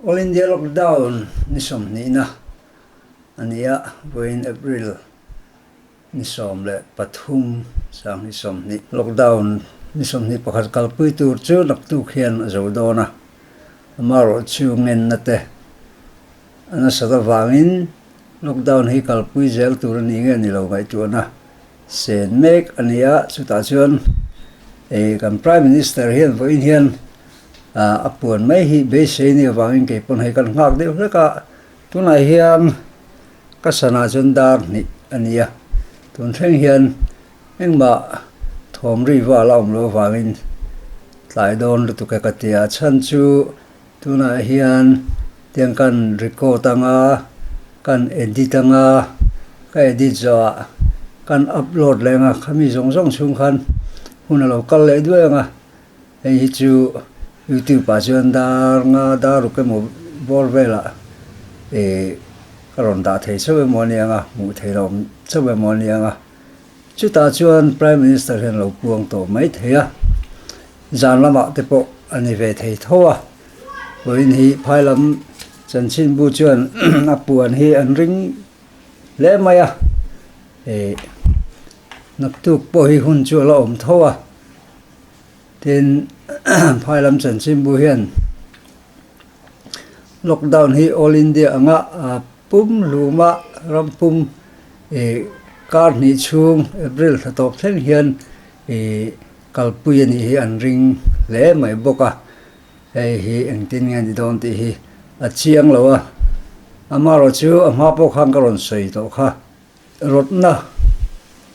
All India lockdown ni sawmhnihna a ni a, vawiin April ni sawm leh pathum sang hi sawmhnih lockdown ni sawmhnih pakhat kalpui tur chu naktuk hian a zo dawn a, amaherawh chu ngenna te a nasat avangin lockdown hi kalpui zel tur a ni nge ni lo ngaihtuahna. Sen mek a ni a, chutah chuan ih kan Prime Minister hian vawiin hian ah a puan mai hi beisei ni avangin kei pawn hei kan nghak deuh hlek a, tunah hian ka sana chuan dar hnih a ni a, tun thleng hian engmah thawm ri vala awm loh avangin tlai dawn lutuk e ka ti a, a chhan chu. Tunah hian tiang kan record anga, kan edit anga, ka edit zawhah kan upload leh anga khami zawng zawng chhung khan hun a lo kal leh duai ang a, hei hi chu YouTube ah chuan dar nga dar uk emaw bawr velah ka rawn dah thei chauh emaw ni ang a, hmuh theih loh chauh emaw ni ang a. Chutah chuan Prime Minister hian lo puang tawh mai thei a, zan lamah te pawh a ni ve thei tho a. Vawiin hi phailam Chan Chin Bu chuan a puan hi an ring hle mai a, eh, naktuk pawh hi hun chu a la awm tho a. Tin, phailam Chan Chin Bu hian. Lockdown hi All India anga pum hluma ram pum kar hnih chhung April tha tawp thleng hian kalpui a nih hi an ring hle mai bawk a, hei hi engtin nge ni dawn tih hi a chiang lo a, amaherawhchu a hma pawh khan ka rawn sawi tawh kha. Rawtna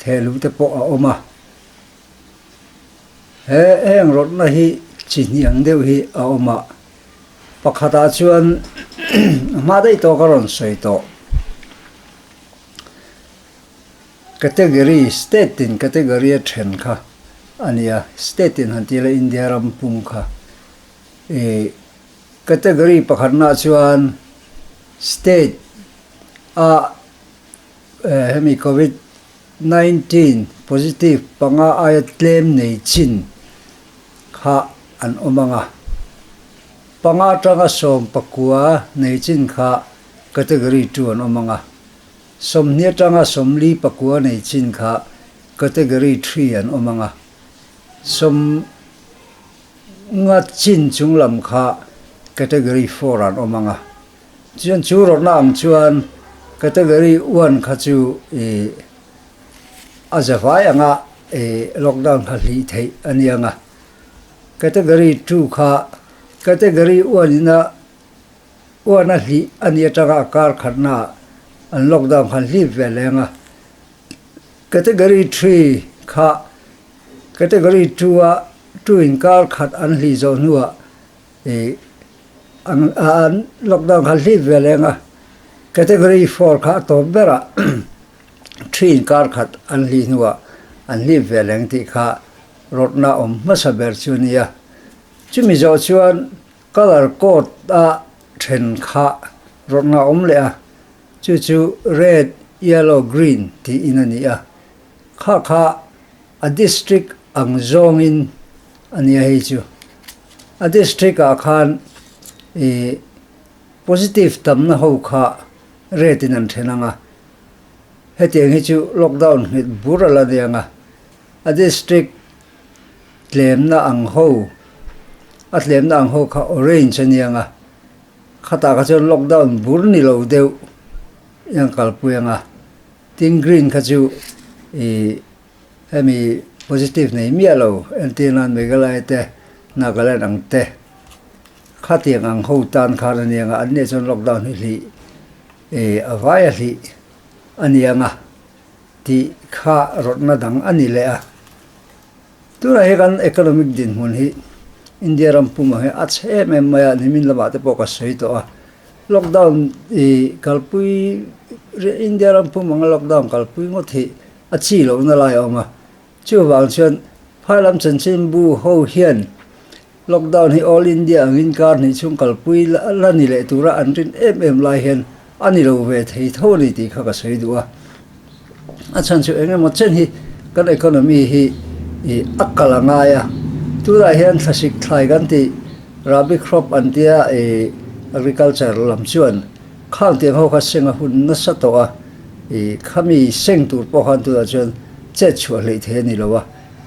theh luh te pawh a awm a, he heng rawtna hi chi hniang deuh hi a awm a, pakhatah chuan a hma daih tawh ka rawn sawi tawh, category state in category a then kha a ni a, state in han ti la India ram pung kha, ih category pakhatna chuan state a, hemi Covid nineteen positive panga aia tlem nei chin kha an awm ang a, panga tanga sawm pakua nei chin kha category two an awm ang a, sawmhnia tanga sawmli pakua nei chin kha category three an awm ang a, sawmnga chin chunglam kha category four an awm ang a. Chuan chu rawrhna ang chuan category one kha chu ih a za vai anga ih lockdown kha hlih theih a ni ang a, category two kha category one in a one a hlih a ni atanga a kar khatna ah an lockdown kha an hlip ve leh ang a, category three kha category two a two in kar khat an hlih zawh hnuah I an an lockdown kha hlim ve leng a, category four kha a tawp ber a, three in kar khat an hli hnu ah an hlim ve leng tih kha rawrhna awm hmasa ber chu a ni a. Chu mi zawh chuan colour code a then kha rawrhna awm leh a, chu chu red, yellow, green tiin a ni a. Kha kha a district ang zawng in, A nia hei chu. A district ah khan i positive tamna ho kha rate in an then ang a. Hetiang hi chu lockdown nghilh bur a la niang a. A district tlemna ang ho, a tlemna ang ho kha orange a niang a. Khatah kha chuan lockdown bur ni lo deuh i an kalpui ang a. Tin green kha chu i Hemi positive nei miah lo entir nan Meghalaya te Nagaland ang te khatiang ang ho tan khan aniang a, anni ah chuan lockdown hi hlih eh a vai a hlih aniang a tih kha rawtna dang ani leh a. Tunah hi kan economic dinhmun hi India ram pumah hi a chhe em em mai a, nimin lamah te pawh ka sawi tawh a, lockdown ih kalpui India ram pum anga lockdown kalpui ngawt hi A chi lohna lai a awm a. Chuvang chuan Phailam chanchin bu ho hian lockdown hi all India ang inkar hnih chung kalpui la ni leh tura an rin em em lai hian a ni lo ve thei tho ni tih kha ka sawi duh a. A chhan chu eng emaw chen hi kan economy hi a kal a ngai a. Tunah hian thlasik thlai kan tih rabi crop an tia agriculture lam chuan. Khang tiang ho kha seng a hun nasa tawh a, i khami seng tur pawh khan tunah chuan chet chhuah hleih thei a ni lo a,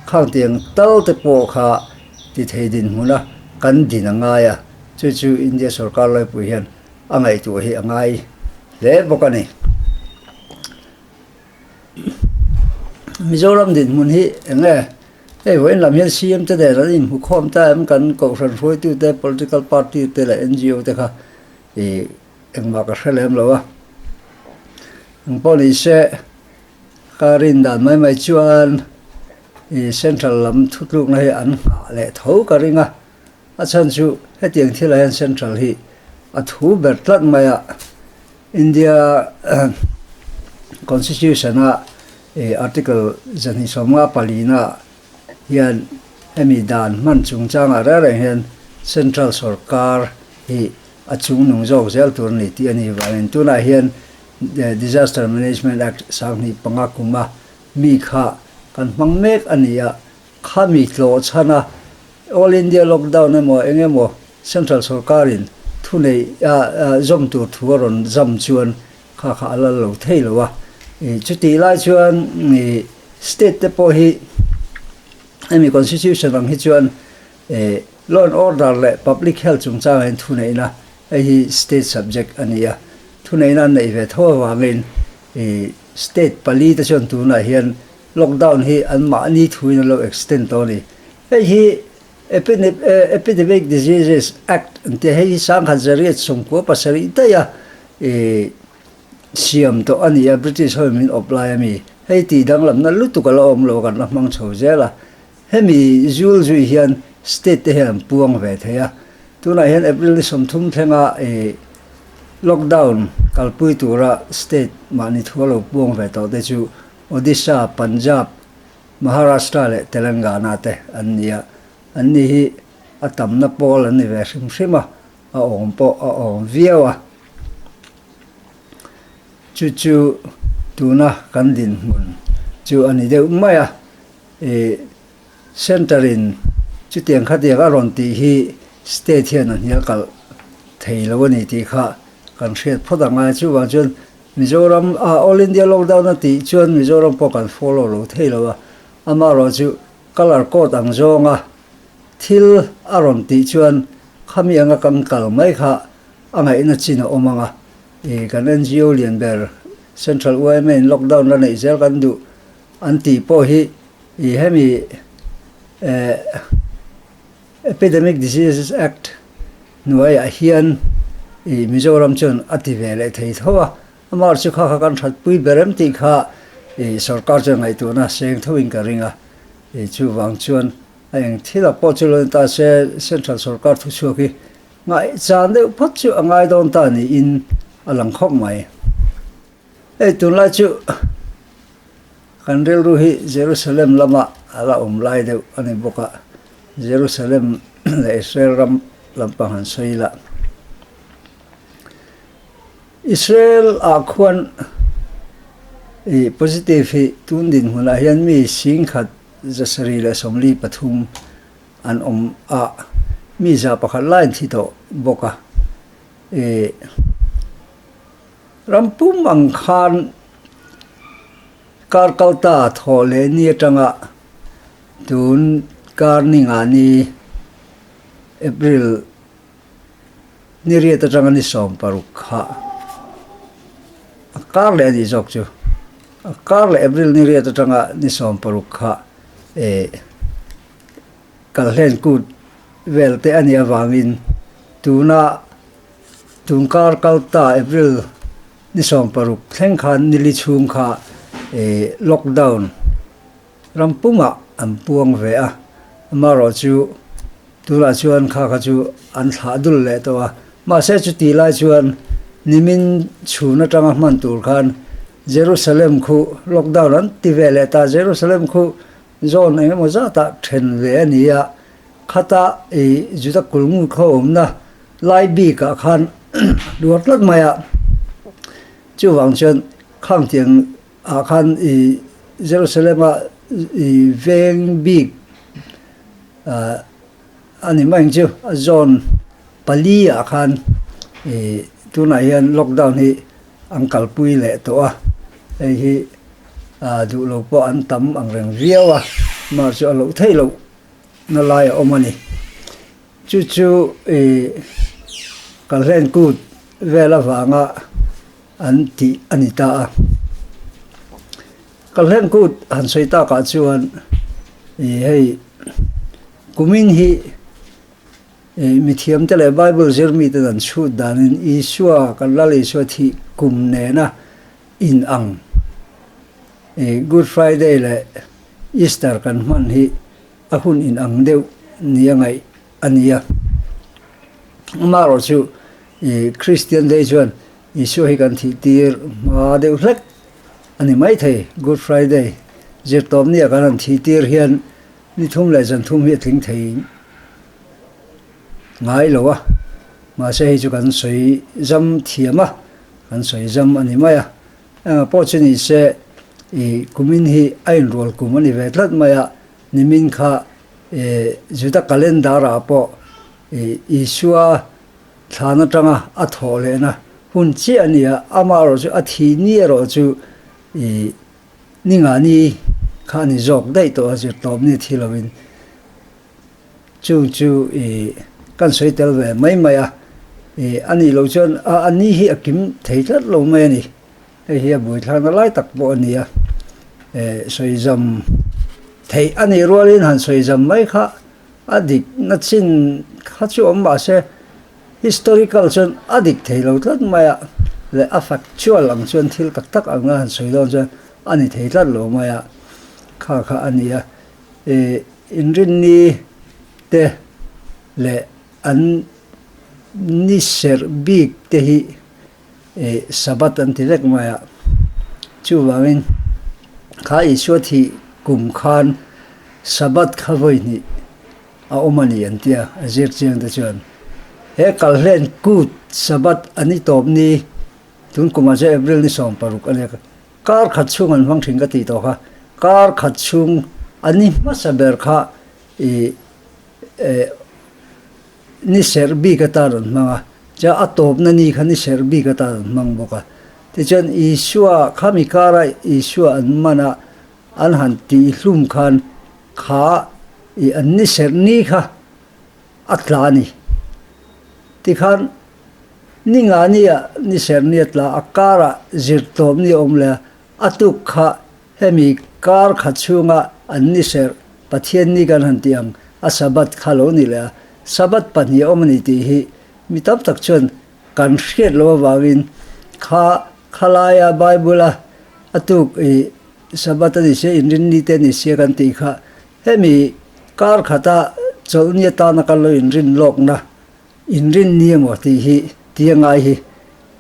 khang tiang tal te pawh kha ti thei dinhmun a kan din a ngai a, chu chu India sorkar laipui hian a ngaihtuah hi a ngai hle bawk a ni. Mizoram dinhmun hi eng nge? Hei vawiin lam hian CM te nen an inhmukhawm ta em? Kan Kohhran hruaitute, political party te leh NGO te kha I engmah ka hre lem lo a. Eng pawh ni se, ka rin dan mai mai chuan i Central lam thutlukna hi an nghah leh tho ka ring a. A chhan chu hetiang thil ah hian Central hi a thu ber tlat mai a, India Constitution a Article zahnih sawm nga pali na hian hemi dan hman chungchangah reng reng hian Central sawrkar hi a chung nung zawk zel tur a ni tih a ni vang in tunah hian Disaster Management Act sanghnih panga kuma mi kha kan hmang mek a ni a, khami tlawh chhan a All India lockdown emaw eng emaw Central sawrkarin thuneih zawm tur thu a rawn zam chuan. Kha kha a lal lo thei lo a, ih chutih lai chuan ih state te pawh hi hemi constitution ang hi chuan eh law and order leh public health chungchanga in thuneihna hei hi state subject a ni a, thuneihna an neih ve tho avangin ih state pali te chuan tunah hian lockdown hi anmahni thuin an lo extend tawh a ni. Hei hi Epidemic Diseases Act an tih hei hi Sangha Zariat sawmkua pasarih daih a siam tawh a ni a, British ho in min awp lai a mi. Hei tih danglamna lutuk ala awm lo kan la hmang chho zel a. Hemi zual zui hian state te hian an puang ve thei a. Tunah hian April ni sawm thum thlenga lockdown kalpui tura state mahni thu a lo puang ve tawh te chu Odisha, Punjab, Maharashtra leh Telangana te an ni a, an ni hi a tamna pawl an ni ve hrim hrim a, a awm pawh a awm viau a. Chu chu tuna kan dinhmun chu a ni deuh mai a, i Centre in chutiang khatiang a rawn tih hi State hian a hnial kalh thei lo a ni tih kha kan hriat phawt ang a, chuvang chuan Mizoram a All India lockdown a tih chuan Mizoram pawh kan follow lo thei lo a, amaherawh chu colour code ang zawnga thil a rawn tih chuan khami anga kan kal mai kha a ngaihna chin a awm ang a, ih kan NGO lian ber Central UIMA in lockdown la neih zel kan duh an tih pawh hi ih hemi eh. Epidemic Diseases Act hnuaiah hian i Mizoram chuan a ti ve leh thei tho a, amah chu kha kha kan thatpui ber em tih kha i sorkar chuan ngaihtuhna seng tho in ka ring a, i chuvang chuan a eng thil ah pawh chu lo en ta se central sorkar thuchhuak hi ngaihchang deuh phawt chu a ngai dawn ta niin a lang khawp mai. Hei tunlai chu kan rilru hi Jerusalem lamah a la awm lai deuh a ni bawk a, Jerusalem leh Israel ram lampang han sawi ila. Israel ah khuan i positive hi tun dinhmun ah hian mi sing khat zasarih leh sawmli pathum an awm a, mi za pakhat lai an thi tawh bawk a, i. Ram pum ang khan kar kal ta thawh leh ni atanga tun kar ni ngah ni April ni riat atanga ni sawm paruk kha a kar leh a nih zawk chu. A kar leh April ni riat atanga ni sawm paruk kha eh kal hlen kut vel te a nih avangin tuna Chungkar Kalta April ni sawm paruk thleng khan nili chhung kha lockdown ram pumah an puang ve a, amarawh chu tunah chuan kha kha chu an thlah dul leh tawh a, mahse chuti lai chuan nimin chhun atanga hman tur khan Jerusalem khuh lockdown an ti ve leh ta, Jerusalem khuh zone eng emaw zatah then ve a ni a. Khata i Juda kul ngutkhawm awmna lai bikah khan a hluar tlat mai a, chuvang chuan khang tiang ah khan i Jerusalema i veng bik a ni mai ang chu, a zone pali ah khan i tunah hian lockdown hi an kalpui leh tawh a, hei hi duhlo pawh an tam ang reng viau a, March chu a loh theih loh na lai a awm a ni. Chu chu i ka hlenkut vel avanga an tih a ni ta a. Ka hlenkut han sawi takah chuan i hei kumin hi i mithiamte leh Bible zir miten an chhut danin Isua, kan Lal Isua thih kum nena, In ang i Good Friday leh Easter kan hman hi a hun in ang deuh nia ngaih a nia. Amaherawh chu i Kristian dei chuan Isua hi kan thih tir hma deuh hlek a ni maithei. Good Friday zirtawp nia kan han thih tir hian ni thum leh zan thum hi a tling thei ngai lo a, mahse hei chu kan sawi zam thiam a. Kan sawi zam a ni mai a, eng pawh chu ni se i kumin hi a inrual kum a ni ve tlat mai a, nimin kha i Juda calendar ah pawh i Isua thlan atanga a thawh lehna hun chiah a ni a, amah erawh chu a thi ni erawh chu i Ni nga ni kha a ni zawk daih tawh a zirtawp ni thilo in Chu chu i kan sawi tel ve mai mai a, i a nih loh chuan a a ni hi a kim thei tlat lo mai a ni, hei hi a bui thlang na lai tak pawh a ni a, e sawi zam theih a nih rualin han sawi zam mai kha a dik na chin kha chu awm mah se historical chuan a dik thei lo tlat mai a leh a factual ang chuan thil tak tak anga han sawi dawn chuan a ni thei tlat lo mai a kha kha a ni a. Inrinni te leh an ni serh bik te hi Sabbath an ti vek mai a, chuvangin kha Isua thih kum khan Sabbath kha vawihnih a awm a ni an ti a, a zirchiang te chuan he kal hlen kut Sabbath a ni tawpni tunkumah chuan April ni sawm paruk a ni a, Kar khat chhung an hmang thin ka tih tawh kha, kar khat chhung a ni hmasa ber kha i eh ni serh bik ata rawn hmang a, chuan a tawpna ni kha ni serh bik ata rawn hmang bawk a. Tichuan Isua kha mi kara Isua an man a an han tih hlum khan kha i an ni serh ni kha a tla a ni. Tikhan Ni ngahnia ni serhnia tla a kara zir tawp ni awm le a tuk kha hemi kar khat chhunga an ni serh, Pathian ni kan han tih ang, a Sabbath kha lo ni leh a, Sabbath pahnih a awm a ni tih hi mi tam tak chuan kan hriat lo avangin kha khalaia Bible-a a tuk i Sabbath a ni se, inrinni te a ni se kan tih kha hemi kar khata chawlhnia tana kan lo inrin lawkna. Inrinni emaw tih hi ti a ngai hi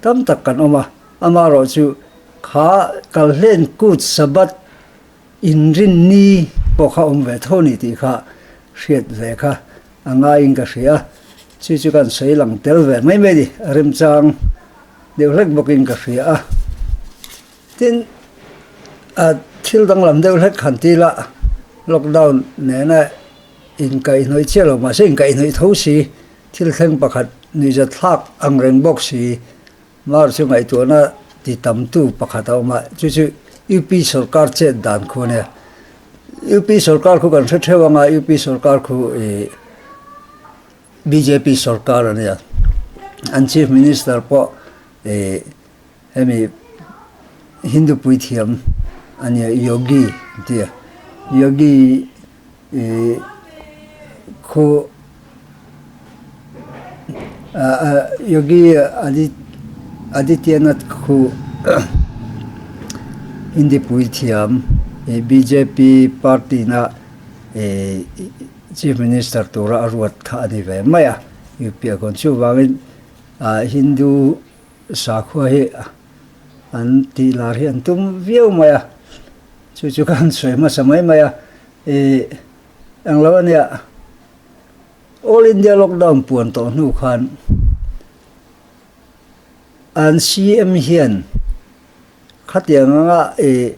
tam tak kan awm a, amah rawh chu kha kalhlen kut Sabbath inrinni pawh kha awm ve tho ni tih kha hriat ve kha a ngaiin ka hria a, chu chu kan sawi lang tel ve mai mai ni, a remchang deuh hlek bawkin ka hria a. Tin, a thil danglam deuh hlek han ti la, lockdown nena inkaihhnawih chiah lo, mahse inkaihhnawih tho si, thil thleng pakhat nuihzet thlak ang reng bawk si. Mar chu ngaihtuahna ti tamtu pakhat a awm a, chu chu UP sorkar chet dan khu ania. UP sorkar khu kan hre theuh anga UP sorkar khu i bjp sorkar ania. An chief minister pawh i. Hemi Hindu puithiam a nia Yogi tia. Yogi ih khu Yogi Adityanath khu Hindi puithiam ih BJP party na Chief Minister tura a ruat kha a ni ve mai a. UP a gawn chu vangin Hindu Sakhua hi an tih lar hi an tum viau mai a, chu chu khan sawi hmasa mai mai a, ih englo ania All India lockdown puan tawh hnu khan an CM hian khatiang anga ih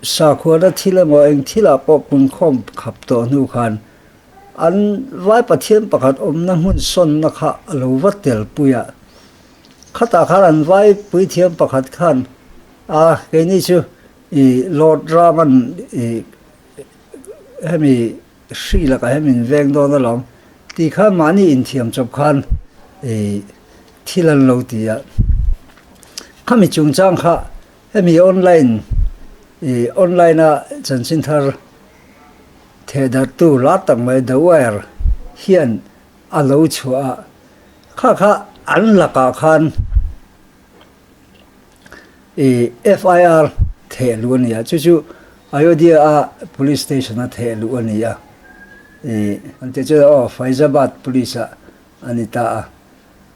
Sakhuana thil emaw eng thilah pawh punkhawm khap tawh hnu khan an vai Pathian pakhat awmna hmun sawnna kha a lo va tel pui a. Khatah khan an vai puithiam pakhat khan, A, keini chu i Lord Raman i hemi hri lakah hian min veng dawn alawm tih khan mahni inthiam chawp khan i thil an lo ti a. Khami chungchang kha Hemi online i online-a chanchin thar theh darhtu lar tak mai The Wire hian a lo chhuah a, kha kha an lakah khan i FIR theh luh a ni a, chu chu Ayodhya-a police station-a theh luh a ni a i, an tih chuan aw Faizabad police-ah a ni ta a.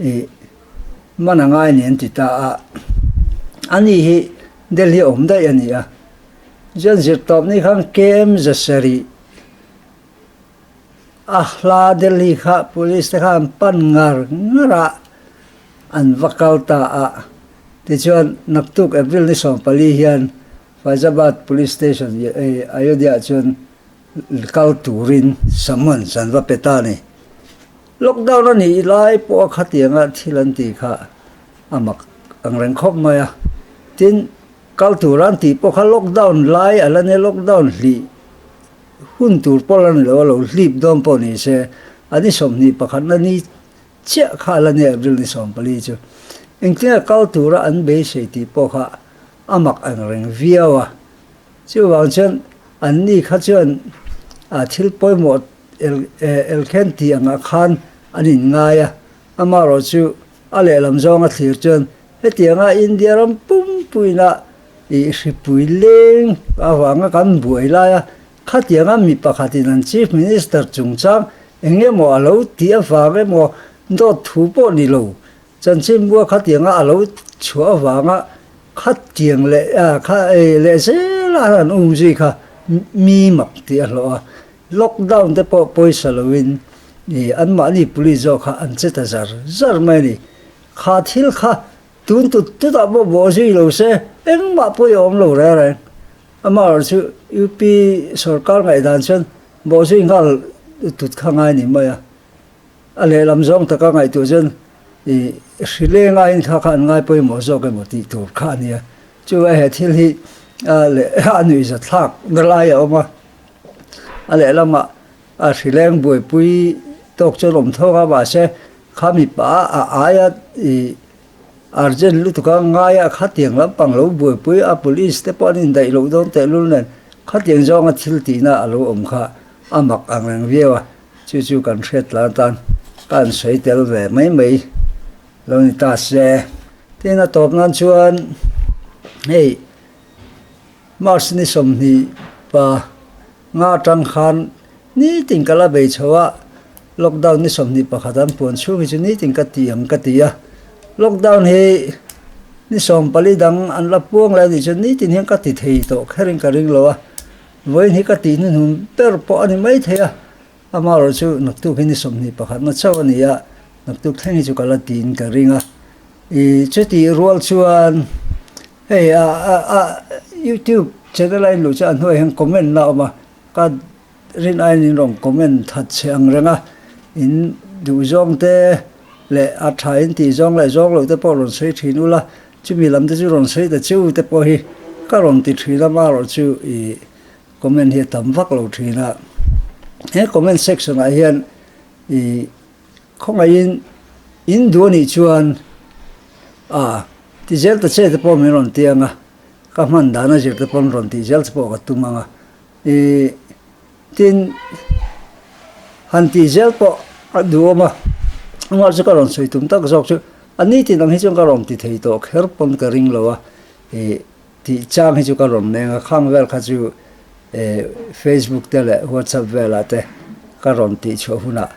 I man anga a nen ti ta a. Ani hi Delhi awm daih a ni a. Chuan zirtawp ni khan KM zasarih a hla Delhi kha police te khan pan ngar ngar a an va kal ta a. Tichuan naktuk April ni sawm pali hian Faizabad police station Ayodhya ah chuan kal turin summons an va pe ta a ni. Lockdown a nih lai pawha khatianga thil an ti kha a mak ang reng khawp mai a, tin kal tura an tih pawh kha lockdown lai a la nia, lockdown hlih hun tur pawh la ni lo a, lo hlip dawn pawh ni se a ni sawmhnih pakhatna ni chiah kha a la nia April ni sawm pali chu, engtinge kal tura an beisei tih pawh kha a mak ang reng viau a, chuvang chuan anni kha chuan thil pawimawh Elkhen tih angah khan an inngai a, amaherawh chu a lehlam zawnga thlir chuan hetianga India ram pumpuina ih hripui leng avanga kan buai lai a, khatianga mi pakhatin an Chief Minister chungchang eng emaw a lo tih avang emaw dawt thu pawh ni lo, chanchin bua khatianga a lo chhuah avanga khatiang leh lehzela an um zui kha mi mak tih a hlawh a, Lockdown te pawh pawisa loin i anmahni puli zawk kha an che ta zar zar mai a ni. Kha thil kha tun tut tutah pawh bawh zui lo se, engmah pawh i awm lo reng reng. Amaherawh chu UP sawrkar ngaihdan chuan bawh zui nghal tut kha ngai ni mai a. A lehlam zawng taka ngaihtuah chuan i hri lengahin kha kha an ngai pawimawh zawk emaw tih tur kha a nia. Chuvah he thil hi a leh a nuihzat thlak na lai a awm a. A lehlamah a hrileng buaipui tawk chuan awm thawk a, mahse kha mipa a ai a i urgent lutuk a ngai a, khatiang lampang lo buaipui a, police te pawh an indaih loh dawn teh lul nen khatiang zawnga thil tihna a lo awm kha a mak ang reng viau a, chu chu kan hriat tlan tan ka an sawi tel ve mai mai lo ni ta se. Tin a tawp nan chuan hei. March ni sawmhnih pa nga tang khan nitin ka la bei chho a, lockdown ni sawmhnih pakhat an puan chhung hi chu nitin ka ti ang ka ti a. Lockdown hi ni sawm pali dang an la puang leh a nih chuan nitin hian ka ti thei tawh kher in ka ring lo a, vawiin hi ka tih hnu hnun ber pawh a ni maithei a, amaherawh chu naktuk hi ni sawmhnih pakhat na chauh a ni a, naktuk thleng hi chu ka la ti in ka ring a. I chutih rual chuan Hei a a youtube channel a inluh chuan a hnuaiah hian comment la awm a, ka rin aiin in rawn comment that chhe ang reng a, in duh zawng te leh a tha in tih zawng leh zawng lo te pawh rawn sawi thin ula, chumi lam te chu rawn sawi ta chiu te pawh hi ka rawn ti thin a, marawh chu i comment hi a tam vak lo thin a, he comment section ah hian i Khawngaihin, In duh a nih chuan, Ah, ti zel ta che te pawh min rawn ti ang a, ka hman dana zir te pawn rawn tih zel te pawh ka tum ang a. I, tin, han tih zel pawh a duhawm a, ruah chu ka rawn sawi tum tak zawk chu, a ni tin ang hi chuan ka rawn ti thei tawh kher pawn ka ring lo a, i, tih chang hi chu ka rawn meng a, khang vel kha chu, e, Facebook te leh WhatsApp velah te ka rawn tih chhuah hunah,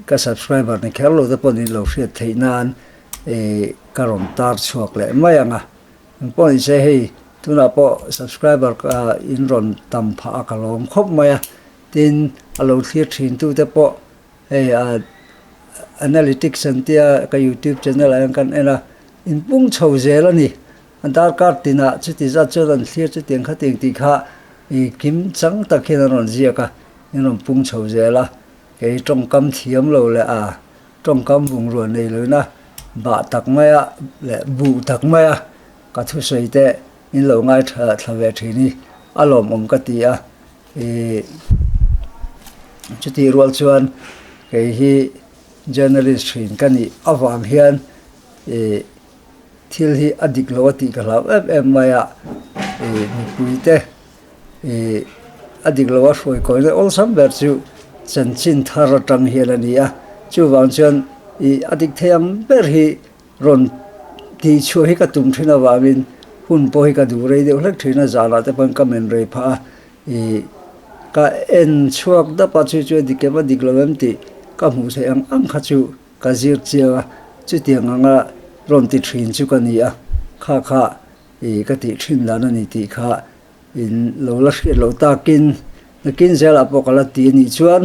Ka subscriber ni kher lo te pawh nih lo hriat theih nan ka rawn tar chhuak leh mai ang a, eng pawh ni se hei tunah pawh subscriber ka in rawn tam phah a ka lawm khawp mai a, tin a lo thlir thin tu te pawh hei a analytics an tia ka youtube channel ah hian kan en a, in pung chho zel a ni. A darkar tinah chuti zat chuan an thlir chutiang kha tiang tih kha i kim chang tak hian an rawn ziak a, in rawn pung chho zel a, kei tawngkam thiam lo leh a tawngkam bungrua nei loina bah tak mai a leh buh tak mai a ka thusawi te in lo ngai tha thla ve thin hi a lawmawm ka ti a, i chutih rual chuan kei hi journalist thin ka nih avang hian i. Thil hi a dik lo a tih ka hlau em em mai a, ih, mipui te, ih, a dik lo a hruai kawi ngai awlsam ber chu chanchin thar atang hian a ni a, chuvang chuan, ih, a dik thei ang ber hi rawn tih chhuah hi ka tum thin avangin hun pawh hi ka duh rei deuh hlek thin a, zanah te pawhin ka men rei phah a, ih, ka en chhuak dap a, chu chu a dik em a dik lo em tih ka hmuh theih ang ang kha chu Ka zir chiang a, chutiang anga rawn ti thin chu ka ni a, kha kha i ka tih thin dan a ni tih kha in lo la hriat loh takin nakin zel ah pawh ka la ti a nih chuan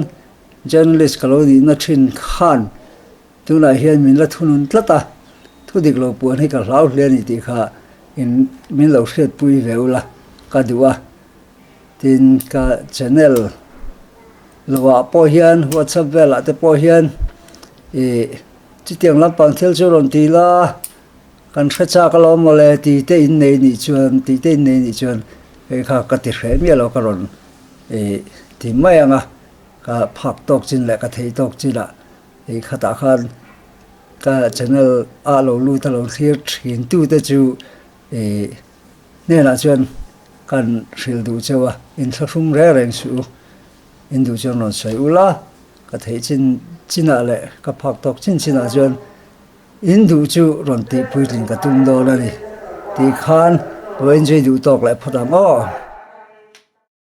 journalist ka lo nihna thin khan tunah hian min la thunun tlat a, thu dik lo puan hi ka hlau hle a ni tih kha in min lo hriatpui ve ula ka duh a, tin ka channel. Lovah pawh hian WhatsApp velah te pawh hian ih chutiang lampang thil chu rawn ti la, kan hre chak a lo mawle tite in nei nih chuan, tite in nei nih chuan hei kha ka ti hreh miah lo ka rawn ih ti mai ang a, ka phak tawk chin leh ka thei tawk chinah hei khatah khan ka channel a lo lut a lo thlir thintute chu. I hnenah chuan kan hrilh duh cheu a, in thlahrum reng reng suh u, in duh chuan rawn sawi u la, ka theih chin chinah leh ka phak tawk chin chinah chuan in duh chu rawn tih puitlin ka tum dawn a ni tih khan lo enjoy duh tawk leh phawt ang aw.